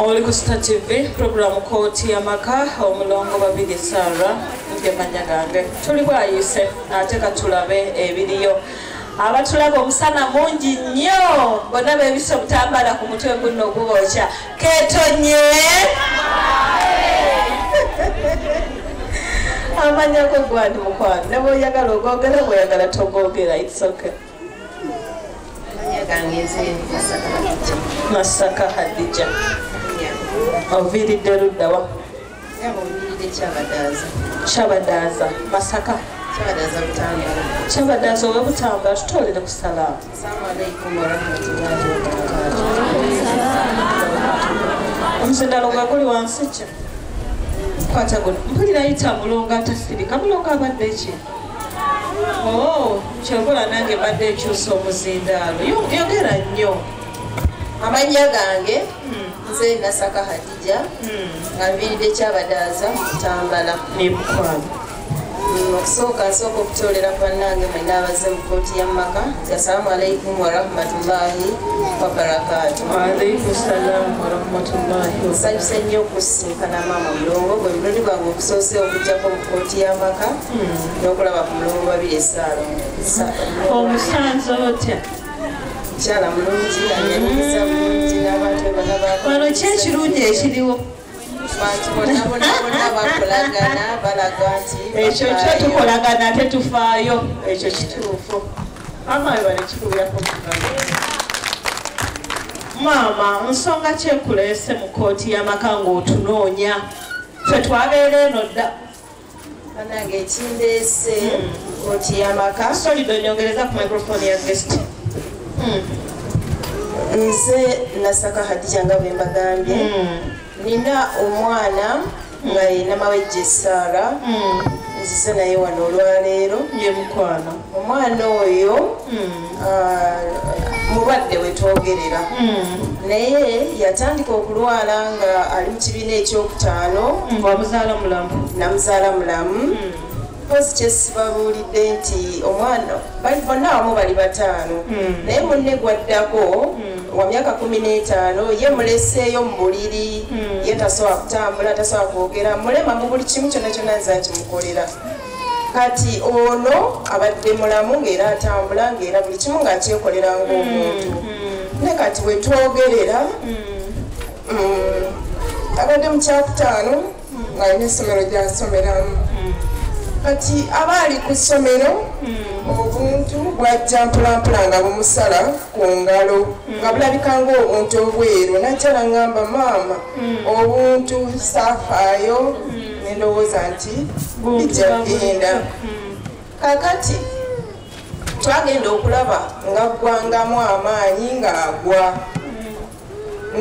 oli ku sita tv puroguramu kooti yamaka omulongo babiri sara ngemanya gange tuli bwayise ate katulabe ebiriyo abatulaba omusana mungi nnyo bona bebisa obutambala ku mutwe guno ogubokya ketonye amanyako gwani mukwano neboyagala ogogera bweyagala togogera itsoke masaka hadija oviiridde luddawa kyabadaaza masaka kyabadaaza owe butambala tutoolere ku salaamu omusindalo gwe guli wansi kye kwata guno mpulira yita mulongo atasirika mulongo abadde ki Oh, kyokola nange mbadde nkyusa omuzindaalo yogera nnyo amannya gange hmm. nze nasaka hadija hmm. nga nviiridde kyabadaaza kutambala nebukwano hmm, okusooka nsooka okutoolera bannange mwena abaze mu kooti ya mumaka nti assalamu alaikum warahmatullahi wabarakatu nsanyuse nnyo okusinkana maama mulongo gwe mulundi gwange okusoose okujjako mu kooti ya maka n'okulaba ku mulongo babiri esaalo omusanze otya mukyala mulungi anyanyiza bulungi n'abantu bebana bano ki ekirungi ekiriwo bantu bona bona bona bakolagana balaga nti ekyo kyo tukolagana ate tufaayo ekyo kituufu maama we banekikubirako maama nsonga kyekuleese mu kooti y'amaka ng'otunoonya fe twabeera eno dda banange ekindeese koti hmm. yamaka solid onyongereza ku microphone ya guest hmm. nze nasaka hadija nga bwe mbagambye hmm. nina omwana nga yenamawejje esaara nzize naye wano olwaleero ye mukwano omwana oyo ah, mulwadde wetwogerera naye yatandika okulwala nga ali mu kibiina ekyokutaano wamuzaala mulamu namuzaala mulamu mpozi kyesibabuulidde nti omwana bali bonna wamu bali bataano naye munne gwaddako wa myaka kumi n'etaano ye muleseeyo mu buliri ye tasobola kutambula tasobola kwogera mulema mu buli kimu kyonna kyonna nze akimukolera kati ono abadde mulamu ngaera atambula ngaera buli kimu ngaakyekolera ngaomuntu mm, mm. ne kati wetwogerera mm. abadde mukyakutaano ngaalina essomero gyasomeramu kati aba ali ku ssomero obuntu bwajja mpolampola nga bumusala ku ngalo nga bulabika ngaobuntu obweru najja nangamba maama obuntu safaayo nendowooza nti bijja kugenda kakati twagenda okulaba nga ggwangamu amaanyi ng'agwa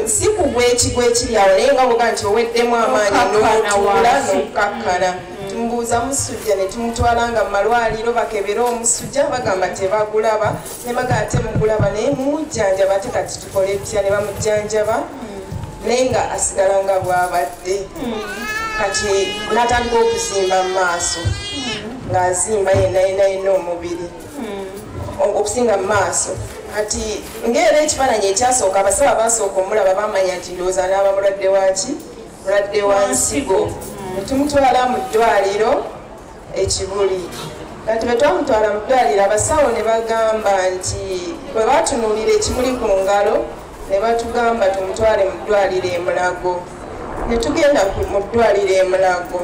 si kugwa ekigo ekiri awo naye nga boga nti oweddemu amaanyi n'otuula n'okukakkana tumubuuza musujja ne tumutwala nga mu malwaliro bakebere omusujja bagamba tebagulaba ne maga ate mukulaba naye mumujjanjaba ate kati tukole etya ne bamujjanjaba hmm. naye nga asigala nga bwabadde hmm. kati natandika okuzimba mu maaso hmm. ng'azimba yenayenayina omubiri okusinga mu maaso kati ngaera ekifaananyi ekyasooka abasaba basooka omulaba bamanya nti ndowooza naaba mulwadde waki mulwadde wa nsigo netumutwala mu ddwaliro ekibuli kati bwe twamutwala mu ddwaliro abasawo ne bagamba nti bwe batunuulira ekimuli ku ngalo ne batugamba tumutwale mu ddwaliro emulago ne tugenda mu ddwaliro emulago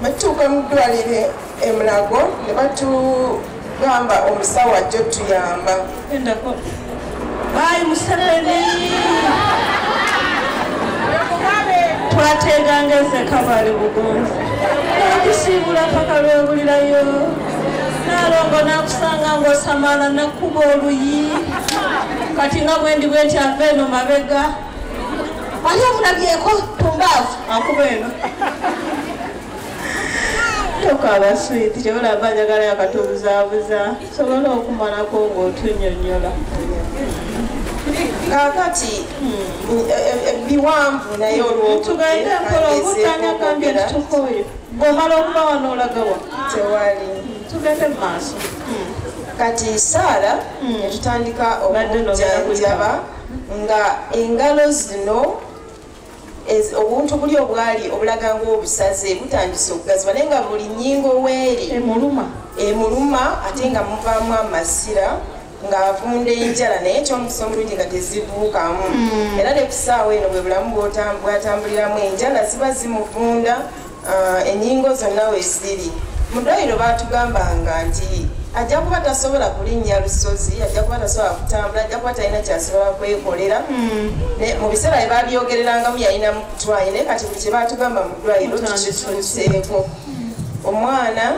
batutuuka mu ddwaliro emulago ne batu gamba omusawo ajja otuyamba endako bayi museveni twateeganga ezekabali bugonzi nakusiibula paka lwebulirayo nalongo nakusanga ngaosamala nakuba oluyi kati nga bwendi bwenti ava eno mabega ali omulabyeko tumbaavu akuba eno tokaaba swiiti kyebulaba njagala yakatubuzaabuza sobola okumalako ng'otunyonyola kakati ebiwanvu hmm, e, e, naye olwotugende mpola okutanya kambi etutukoyo bwomala okuba wano olagawa tewali tugende mu maaso hmm. kati saala hmm. netutandika okujjanjaba nga engalo zino obuntu buli obwali obulaga ng'obusaze butandise okugazibwa naye nga buli nyingo weeri emuluma emuluma ate nga muvaamu amasira ng'avunda enjala naye ekyomukisa omulungi nga tezibuukamu mm. era ne ku ssaawa eno bwe bulamu bwatambuliramu enjala ziba zimuvunda Ah, enyingo zonna weziri mudwaliro batugambanga nti ajja kuba tasobola kulinnya lusozi ajja kuba tasobola kutambula ajja kuba talina kyasobola kwekolera hmm. mu biseera bye babyogererangamu yalina mukutwaye naye kati buli kyebatugamba mudwaliro tukituuseeko hmm. omwana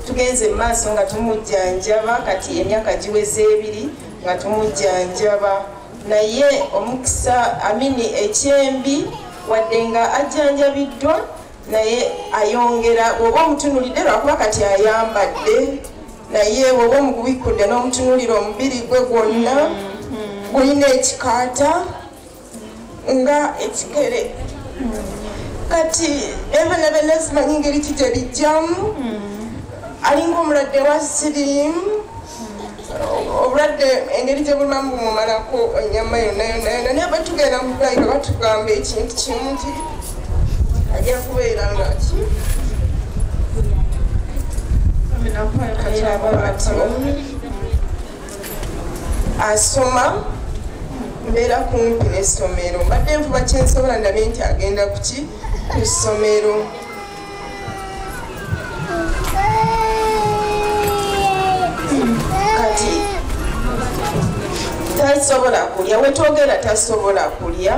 tugenze mu maaso nga tumujjanjaba kati emyaka giweza ebiri nga tumujjanjaba naye omukisa amini ekyembi wadde nga ajjanjabiddwa naye ayongera bwoba omutunulidde lwakuba kati ayambadde naye bwoba omubikkudde n'omutunulira omubiri gwe gwonna gulina ekikaata nga ekigere kati ebana bena simanyi ngeri ki gye bijjamu alinga omulwadde wa siriimu obulwadde engeri gye bulumamu bumumalako enyama yonna yonna yonna naye batugenda mu kulayira batugamba ekintu kimu nti ajja kubeera nga ki asoma mbeera kumpi n'essomero mbadde nvuba kyensobola ndabye nti agenda kuki ku ssomero tasobola kulya wetwogera tasobola kulya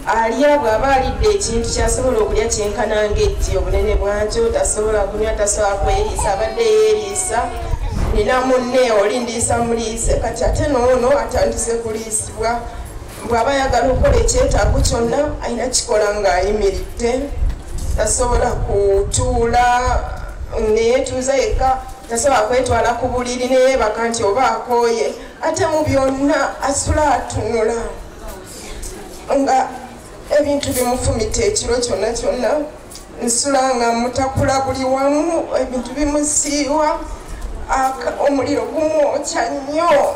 alya bw'aba alidde ekintu kyasobola okulya kyenkana ng'etti obunene bwakyo tasobola kunywa tasobola kweriisa abadde yeeriisa nina munne oli ndiisa muliise kati ate noono atandise kuliisibwa bw'aba ayagala okukola ekyetaago kyonna alina kikola ng'ayimiridde tasobola kutuula neyetuuza yekka tasobola kwetwala ku buliri neyebaka nti oba akooye ate mu byonna asula atunula nga ebintu bimufumita ekiro kyonna kyonna nsula nga mutakula buli wamu ebintu bimusiiwa omuliro gumwokya nnyo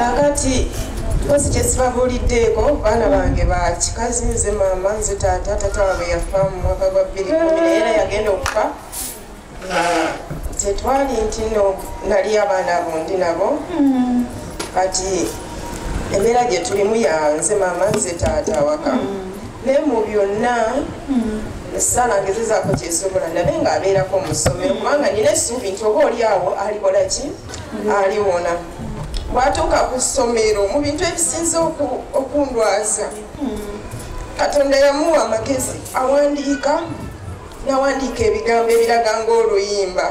kakati kosi kyesibabuuliddeeko baana bange bakikazi nze maama nze taata taata wabwe yafa mu mwaka gwa bbiri kumi naye era yagenda okufa tetwali nti no nali abaana abo ndi nabo kati embeera gye tulimu yanze maama nze taata awaka naye mu byonna esala ngezezaako kyesobola nabe ng'abeerako mu ssomero kubanga nina essuubi nti oba oli awo alikola ki aliwona bwatuuka ku ssomero mu bintu ebisinza okundwaza katonda yamuwa amagezi awandiika nawandiika ebigambo ebiraga ng'oluyimba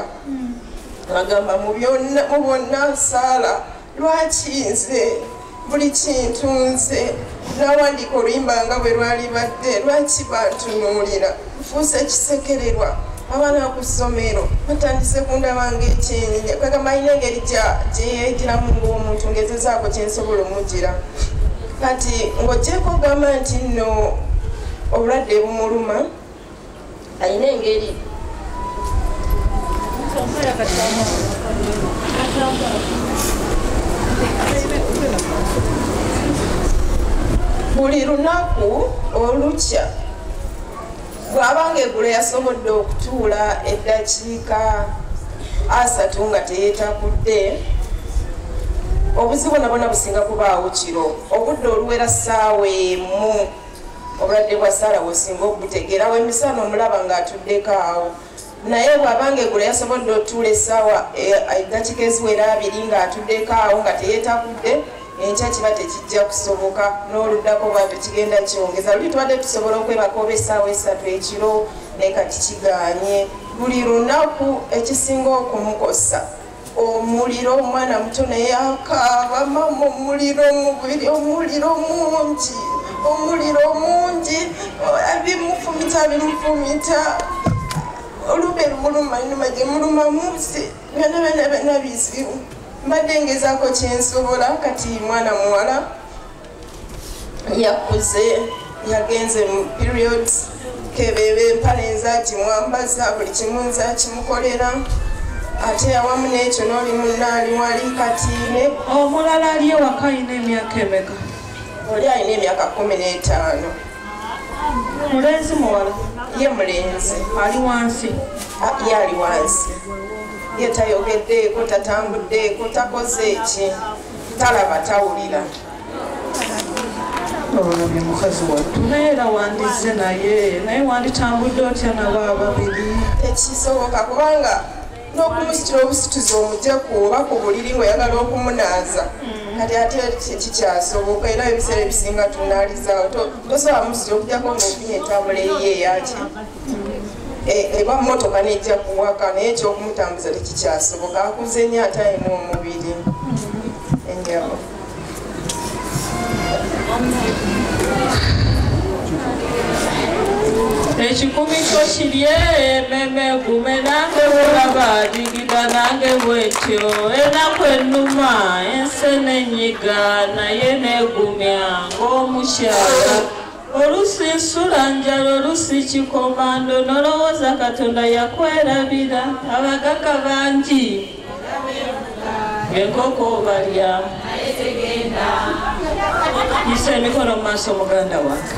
agamba mu bonna nsaala lwaki nze buli kintu nze nawandiika oluyimba nga bwe lwali badde lwaki bantunuulira nfuusa ekisekererwa abaana ku ssomero batandise kundaba ngaekyenyi kagamba alina engeri gyeyegiramu ngaomuntu ngezezaako kyensobola omugira kati ng'ogyeko ogamba nti nno obulwadde bumuluma alina engeri buli lunaku olukya bwabanga egulo yasobodde okutuula eddakiika asatu nga teyetakudde obuzibu nabona businga kubaawo kiro obudde oluwera ssaawa emu obulwadde bwa saala wosinga okubutegeera wemisana omulaba ngaatuddeko awo naye bwabanga egula yasobodde otuula esaawa edakika eh, eziwera abiri ngaatuddeko awo nga teyetakudde enkya kiba tekijja kusoboka n'oluddako bwatyo kigenda kyongeza luli tubadde tusobola okwebaka oba esaawa esatu ekiro naye kati kiganye buli lunaku ekisinga okumukosa omuliro omwana muto naye akaaba mama omuliro omubiri omuliro mungi omuliro mungi abimufumita abimufumita olube lumuluma nyuma gyemuluma munsi byona byona byona bizibu mbadde ngezaako kyensobola kati mwana muwala yakuze yagenze mu periods kebebe empale nzaki mwambaza buli kimu nzakimukolera ate awamu n'ekyo n'oli munaali wali kati ne omulala ali ewaka alina emyaka emeka oli alina emyaka kumi n'etaano mulenzi muwala ye mulenzi ali wansi ye ali wansi ye tayogeddeeko tatambuddeeko takoze eki talaba tawulira olabye mukazi wattu naye era wandizze naye naye wanditambudde otya nabo ababiri ekisoboka kubanga n'okumusitula obusituzi omugye ku oba ku buliri ngaoyagala okumunaaza mm. kati ate kikyasoboka era ebiseera ebisinga tunalizawo tosobola musitula okujako ngaofunye entambula eyiye eyaki e, eba mmotoka nejja kuwaka naye ekyokumutambuza tekikyasoboka akuze nnyo ate alina omubiri enjabo ekikumi kyo kirye ememe gume nange bulaba digida nange bwetyo enaku enuma ensi nenyiga naye negumya ng'omukyala Olusi nsula njala olusi kikomando nolowooza katonda yakwerabira abagaga bangi enkoko obalya yisa emikono mu maaso muganda wange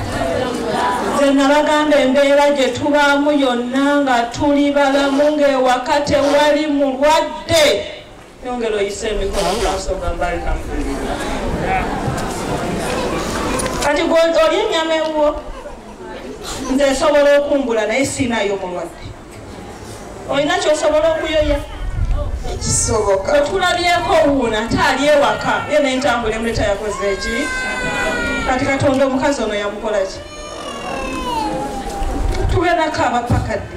nze nabagamba embeera gye tubaamu yonna nga tuli balamu ng'ewaka tewali mulwadde Yongera oyise emikono mu maaso ga Barika. Kati gwe oli ennyama ewuwo nze nsobola okumbula naye siinayo mulwadde olina kyosobola okuyoya ekisoboka otulabyeko wuuna ate ali ewaka ye nentambula emuleta yakoze eki kati katonda omukazi ono yamukolaki tugenda kaaba pakadde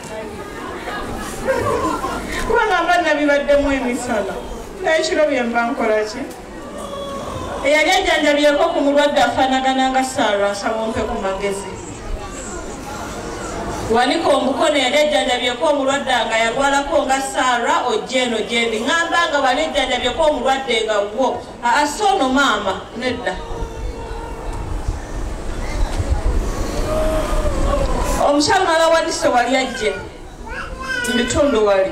kubanga mba nabibaddemu emisala nekiro byemba nkolaki eyali ajjanjabyeko ku mulwadde afaanagana nga saara asabompe ku magezi wanika omukono yali ajjanjabyeko omulwadde nga yalwalako nga saara ojja eno gyendi ŋamba nga wali ojjanjabyeko omulwadde nga wo ase ono maama nedda omukyalo mala wadise wali ajje mu bitundu wali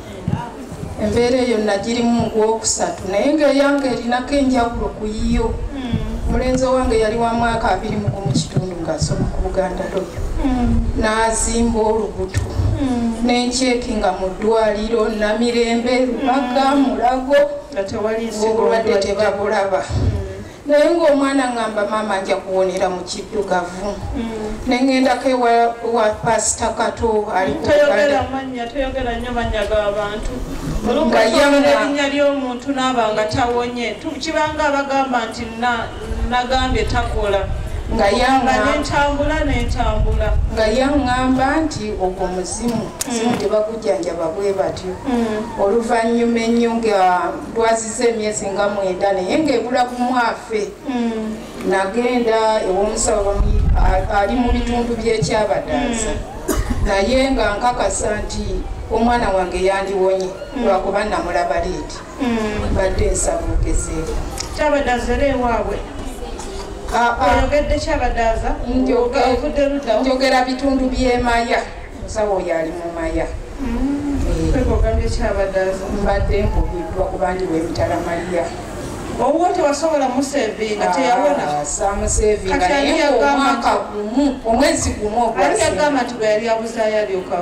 embeera eyo nagirimu mu gwokusatu naye ngaeyange erinako enjawulo ku yiyo omulenzi owange yali wa mwaka abiri mugu mu kitundu ngaasoma ku buganda loyo nazimba olubuto nenkyeki nga mu ddwaliro namirembe lubaga mulago obulwadde tebabulaba naye ng'omwana ngamba maama aja kuwonera mu kiddugavu mm. nengendako ewa pasita kato alingayaerinya ly'omuntu naaba nga tawonye kibanga abagamba nti nagambye takola nga yaŋŋamba nti ogwo muzimu simu mm. tebagujjanjaba bwe batyo mm. oluvannyuma ennyo nga twaziza emyezi nga mwenda naye ngaebula gumwafe hmm. nagenda ewomusawo ali mu bitundu byekyabadaza hmm. naye nga nkakasa nti omwana wange yandiwonye hmm. lwakuba namulaba liiti badde nsabugezeko kyabadaza era ewaabwe ah, ah. oyogedde kyabadaza njogera bitundu byemaya musawo oyo ali mu maya mbadde nkubiddwa kubandi wemitala maliya owuwo tewasobola musevinga teyawona ah, samusevinga naye omwaka gumu omwezi gumu ogwagamba nti bwe yali abuzayo alyoka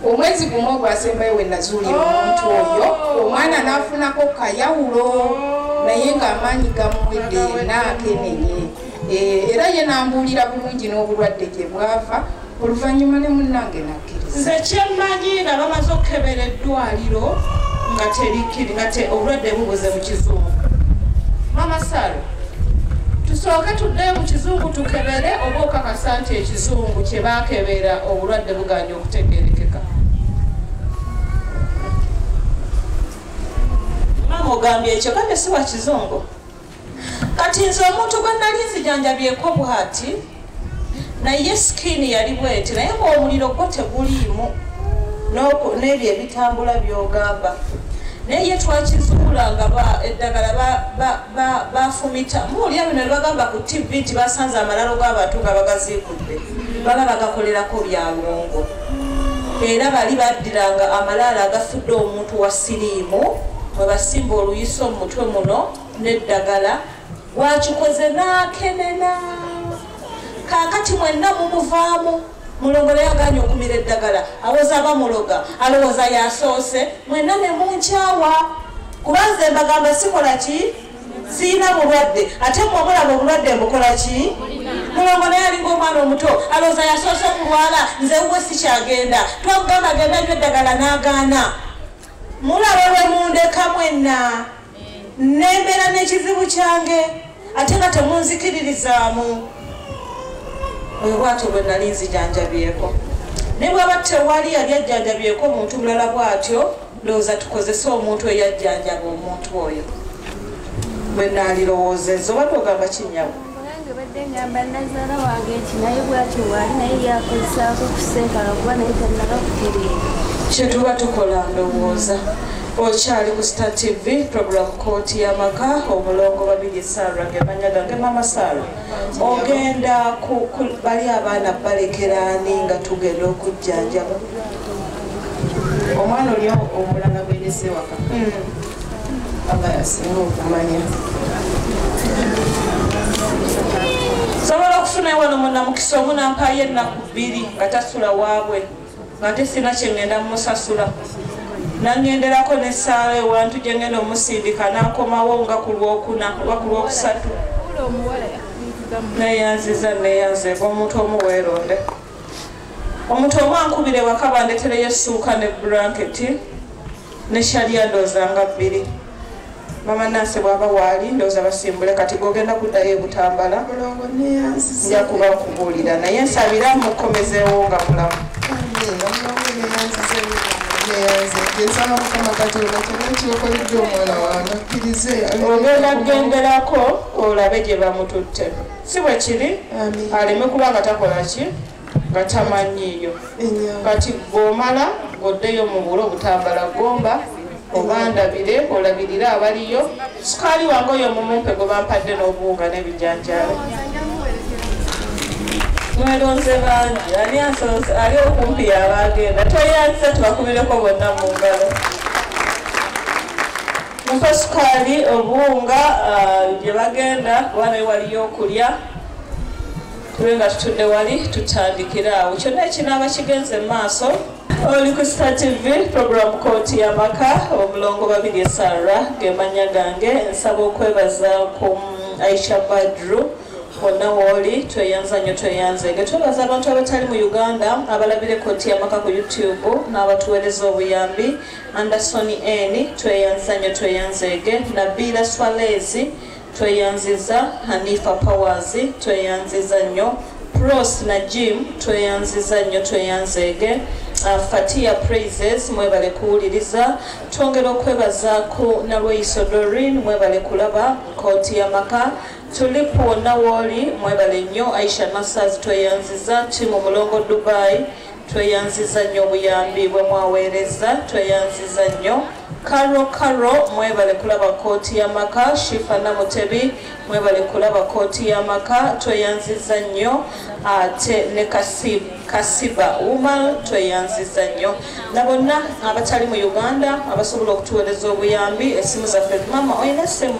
omwezi gumu ogwasembayo we nazuulira oh. omuntu oyo omwana n'afunako kayawulo oh. naye ng'amaanyi gamuwedde naakenenye eh, era ye nambuulira bulungi n'obulwadde gye bwava oluvannyuma ne munnange nakkiriza nze kyemmanyi nga bamaze okukebera eddwaliro nga terikkiri nga obulwadde bubuze mu kizungu mamasalo tusooke tudde mu kizungu tukebere oba okakasa nti ekizungu kye baakebera obulwadde buganya okutegerekeka mama ogambye ekyo kame siwa kizungu kati nze omuntu gwe nali nzijanjabyeko bwati naye sikini yali bweti naye ngaomuliro gwo teguliimu n'ebyo ebitambula byogamba naye ye twakizuula nga eddagala bafumita muulya bino nebagamba ku tv nti basanze amalalo g'abantu nga bagaziikudde baba bagakolerako byalongo era bali baddiranga amalaalo agafudde omuntu wa siriimu mwebasimba oluyiso mu mutwe muno neddagala gwakikoze nakenena kakati mwenna mumuvaamu mulongo leyaganye okumira eddagala awoza bamuloga alowooza yasoose mwenna nemunkyawa kubanze mbagamba sikola ki siyina bulwadde ate mwamulaba obulwadde mbukola ki mulongo naye alinga omwana omuto alowooza yasoose okulwala nze wuwe sikyagenda twakugamba genda nyo eddagala nagaana mulaba lwemundeka mwenna nembeera n'ekizibu kyange ate nga temunzikiririzaamu oyo bwatyo bwe nali nzijanjabyeko ne bwaba tewali yali ajjanjabyeko omuntu mulala bwatyo ndowooza tukozese omuntu eyajjanjaba omuntu oyo bwe nalirowoozeza oba togamba kinyawo Nange badde ngamba nazaala wange nti naye bwatyo waali naye yakozesaako kusenkala kuba naye tannaba kutereera kyetuba tukola ndowooza okyali ku star tv program kooti yamaka omulongo babiri sara gemanya gange mama sara ogenda bali abaana balekeraani nga tugenda okujjanjaba omwana oli omulala gwendese waka hmm. aba yasinga okumanya sobola okufuna wano munamukisa omu nampayo ennaku bbiri nga tasula waabwe nga nte sina kyengenda mumusasula nangenderako nesaala ewantu gyengenda omusindika nakomawo nga ku lwokuna oba ku lwokusatu neyanziza neyanzeka omuntu omu weeronde omuntu omu ankubira ewaka bandetereyo essuuka ne bulanketi ne shaliya ndooza nga bbiri mama nansi bwaba waali ndooza basimbule kati gogenda kuddayo ebutambala nja kuba nkubuulira naye nsabira mukomezeewo nga mulamu ogenda kugenderako olabe gye bamututte si bwe kiri aleme kuba nga takola ki nga tamanyiiyo kati gomala ng'oddeyo mu bulo obutambala gomba obandabire olabirire abaliyo sukaali wange oyo omumumpe gwe bampadde n'obuwunga n'ebijanjaalo mwelonze bangi ani asoose ali okumpi yabaagenda tweyanziza tubakubireko bonna mu ngalo muko sukaali obuwunga gye uh, bagenda kuba naye waliyo okulya tube nga tutudde wali tutandikira awo kyonna ekinaaba kigenze mu maaso oli ku star tv program kooti y'amaka omulongo babiri esarra gemanya gange nsaba okwebaza ku mm, aisha badru wonna wooli tweyanza nnyo tweyanze nge twebaza abantu abatali mu uganda abalabira ekooti y'amaka ku youtube n'abatuweereza obuyambi Anderson Eni tweyanzanyo tweyanzeege Nabiila Swaleezi tweyanziza Hanifa Powers tweyanziza nnyo Pross na Jim tweyanziza nnyo tweyanzeege uh, Fatia Praises mwebale kuwuliriza twongera okwebaza ku Nalweyiso Dorin mwebale kulaba nkooti y'amaka tuli kwonna wooli mwebale nnyo Aisha Nasaz tweyanziza timu mulongo Dubai Tweyanziza nnyo obuyambi bwe mwaweerezza. Tweyanziza nnyo. Karo Karo mwebale kulaba kooti y'amaka. Shifa Namutebi mwebale kulaba kooti y'amaka. Tweyanziza nnyo ate ne Kasib, Kasiba Umar tweyanziza nnyo na bonna abatali mu Uganda abasobola okutuweereza obuyambi. Essimu zaffe mama olina essimu?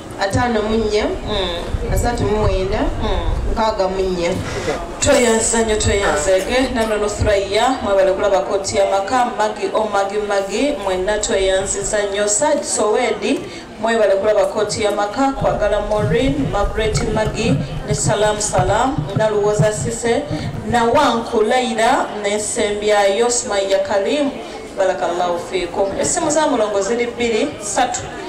ataano mu nnya hmm. asatu mu mwenda hmm. mukaaga mu nnya tweyanza nnyo tweyanzege nano nuthuraiya mwebale kulaba koti yamaka magi omagi oh, magi mwenna tweyanziza nnyo saj sowedi mwebale kulaba koti yamaka kwagala morin magret magi ne salam salam naluwoza sise nawanku laira nensembyayo sumaiya kalimu barakallahu fikum esimu za mulongo ziri bbiri satu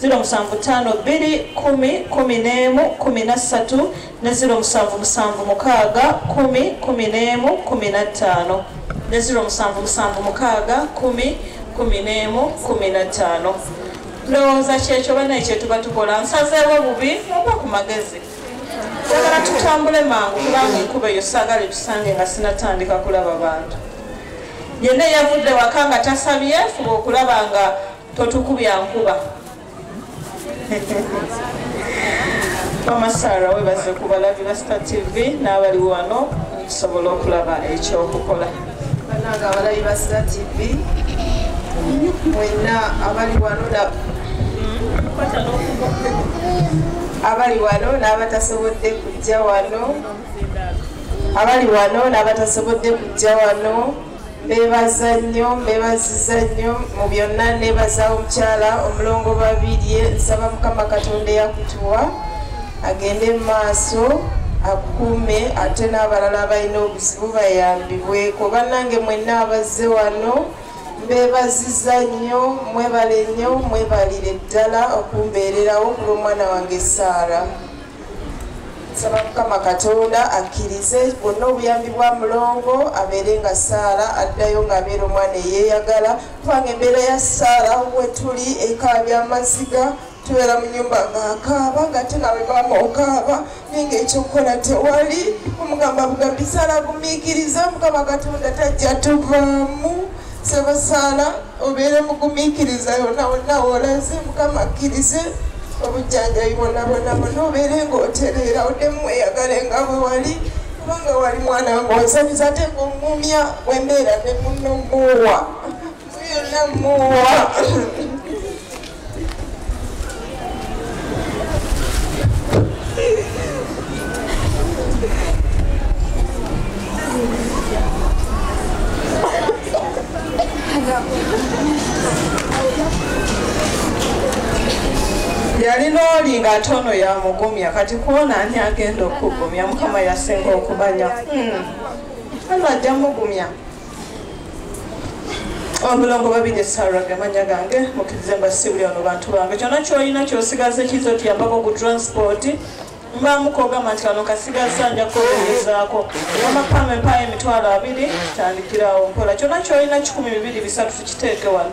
ziro musanvu ttaano bbiri kumi kumi n'emu kumi na ssatu ne ziro musanvu musanvu mukaaga kumi kumi n'emu kumi na ttaano ne ziro musanvu musanvu mukaaga kumi kumi n'emu kumi na ttaano ndowooza kyekyo banaye kyetuba tukola nsazeewo bubi oba ku magezi sagala tutambule mangu kubanga enkuba eyo sagala etusange nga sinatandika kulaba bantu yenna eyavudde waka nga tasabye fuba okulaba nga totukubya nkuba bamasara webaze ku balabi ba star tv n'abali wano okusobola okulaba ekyokukola bananga abalabi ba star tv mwenna abali wano abali wano n'abatasobodde kujja wano abali wano n'abatasobodde kujja wano mbebaza nnyo mbebaziza nnyo mu byonna nebaza omukyala omulongo babirye nsaba mukama katonda eyakutuwa agende mu maaso akukuume ate n'abalala abalina obuzibu bayambibweko bannange mwenna abazze wano mbebaziza nnyo mwebale nnyo mwebalire ddala okumbeererawo kulw'omwana wange saara nsaba mukama katonda akkirize bwonna obuyambi bwa mulongo abeere nga saara addayo ng'abeera omwana eyeeyagala kubanga embeera ya saara wetuli ekaabya amaziga tubeera mu nyumba ng'akaaba ng'ate nawe maama okaaba naye ng'ekyokukola tewali omugamba bugambi saala agumiikiriza mukama katonda tajja tuvaamu sebasaala obeere mugumiikiriza yona wonna wolaze mukama akkirize obujjanjabi bwonabwonabwona obeere ngaotereera oddemu weyagale nga bwe wali kubanga wali mwana wange wansamiza ate ngaomuumya wembeera ne muno muwa muyonna muwa yalina oli nga ate ono yamugumya kati kuona ani agenda okugumya mukama yasinga okumanya hmm. ano ajja mugumya omulongo babi ne sara gamanya gange mukirize mba sibuli ono bantu bange kyona kyolina kyosigaze kiza otuyambako ku transport mbamukogamba nti kano kasigaza nja kukogerezaako amapama empayo emitwalo abiri tandikirawo mpola kyona kyolina kikumi bibiri bisatu tukiteeke wano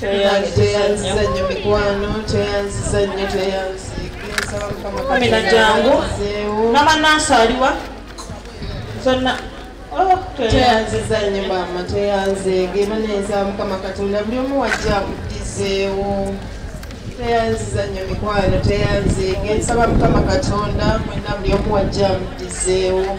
tweyanziza nnyo mikwano tweyanziza nnyo tweyanziamina jangu namanansi aliwa zonna oh, tweyanziza nnyo maama tweyanzeege baneeza mukama katonda buli omu wajja akudizeewo tweyanziza nnyo mikwano tweyanzeege nsaba mukama katonda mwena buli omu wajja amudizeewo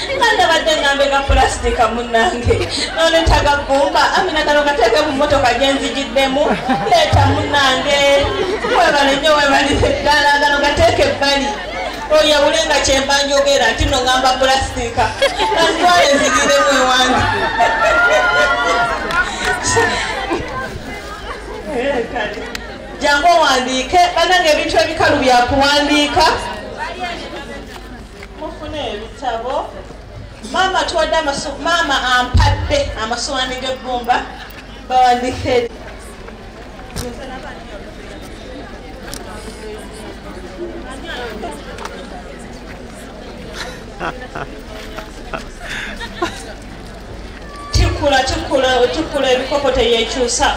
Kanda badde ngambe ka pulastika munnange nonetaga gumba amina kano kateeke mu mmotoka gye nzigiddemu leeta munnange webale nnyo webalize ddala gano gateeke ebbali oyawule nga kyemba njogera nti no ngamba pulastika kantwale nzigiremu ewange jangu owandiike banange ebintu ebikalu byakuwandiika mufune ebitabo maama tuwadde maama ampadde amasowaani g'ebbumba bawandike tikula tikula tikula ebikopo teyekyusa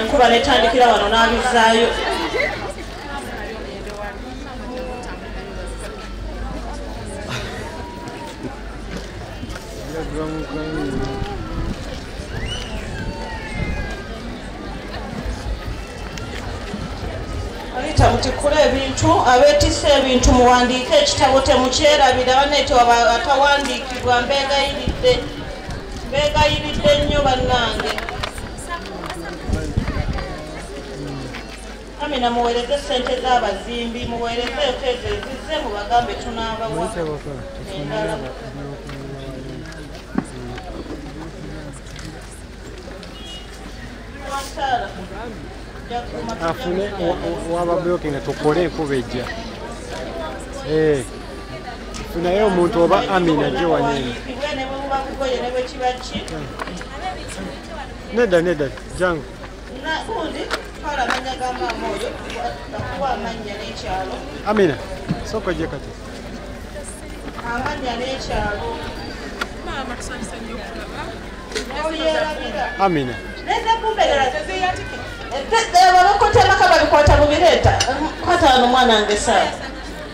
nkuba netandikira wano n'abizaayo rita mutikula ebintu abetisa ebintu muwandiike ekitabo temukyerabira banekyo atawandiikibwa mbegayiridde mbegayiridde nnyo bannange Amina muwereze sente z'abazimbi muwereze ezo ezo ezizze mubagambe tunaabawa afune wababloki nga tukole enkuba ejja eh, funaye omuntu oba amina gyewanene nedda nedda jangu Amina. Soko je kati. Amanya ne kyalo. Mama kusanyisa nnyo okulaba. Amina. Nenda kumbelera zeze yatike. Ete ewabakotema kababikwata mu bireeta. Kwata wano mwana nge sawa.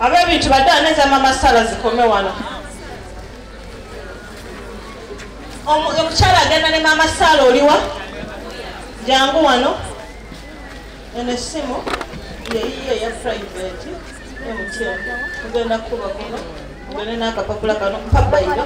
abebintu badala neza mama sala zikome wano omukyala agenda ne mama sala oliwa jangu wano eno esimu yeyiye eya private emutyo ogenda kukuba kuno ogende n'akapapula kano pabayiro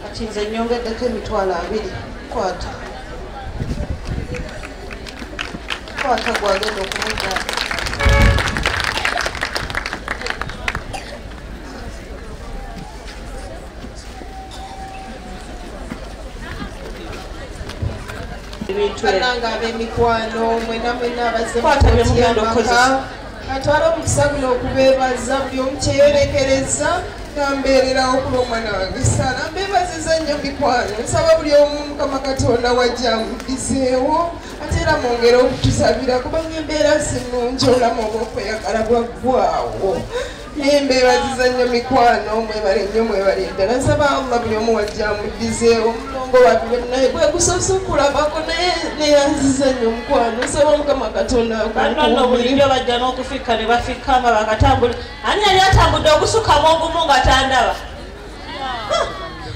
kati nze nyongeddeko emitwalo abiri kwata kwata gwagenda okumuddaa bananga abemikwano mwena mwena abazekwatabyemugandookoza atwala omukisa guno okubeebaza buli omu kyeyolekereza nambeererawo kuba omwana wange sala mbeebaziza nnyo mikwano nsaba buli omu mukama katonda wajja mudizeewo ate era mwongere okutusabira kubanga embeera sinungi olamu obwokweyagala bwaggwawo naye mbeebaziza nnyo mikwano mwebale nnyo mwebale ddala nsaba allah buli omu wajja amuddizeewo omulongo wabire naye kwegusoose okulabako naye neyanziza nnyo omukwano nsaba mukama katonda banono bulijjo bajja n'okufikka ne bafikka nga bakatambula ani yali atambudde ogusukamu ogumu nga tandaba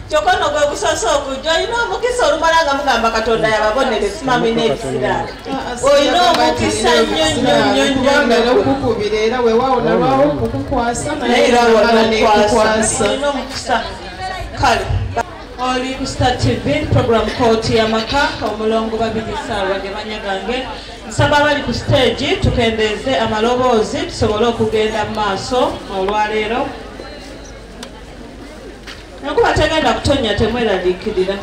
kyokka no gwe gusose okujja olina omukisa olumala nga mugamba katonda yababonere simami n'ebisira olina omukisa nnyo nnyo nnyo nnyo nnyo okukubira era wewawo nalwawo okukukwasa naye era wala nekukwasa olina omukisa kale oli ku star tv program kooti yamaka omulongo babiri saawa ge manya gange nsaba abali ku siteegi tukendeeze amaloboozi tusobole okugenda mu maaso olwaleero nakuba tegenda kutonya temweraliikirira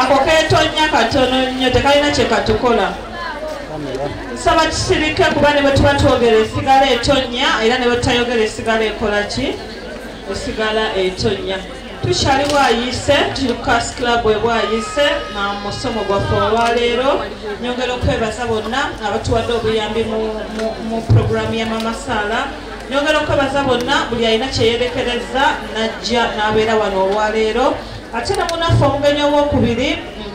ako ketonya katono nnyo tekalina kyekatukola nsaba kisirike kuba ne bwetuba twogera esigala etonya era ne bwetutayogera esigala ekola ki esigala etonya tukyali bwayise tuli kukas club ebwayise na musomo gwaffe olwaleero nyongera okwebaza bonna abatuwadde obuyambi mu programu ya mamasaala nyongera okwebaza bonna buli alina kyeyerekereza najja n'abeera wano olwaleero ate ne munaffe omugenyi owokubiri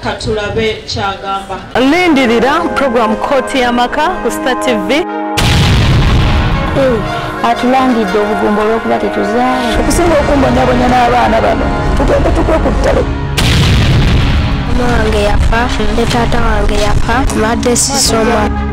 katulabe kyagamba lindirira program kooti y'amaka ku star tv atulangidde obugumba olwokuba tetuzaala okusinga okumbonyabonya n'abaana bano tugende tukwe ku ttale mama wange yafa ne taata wange yafa madde sisoma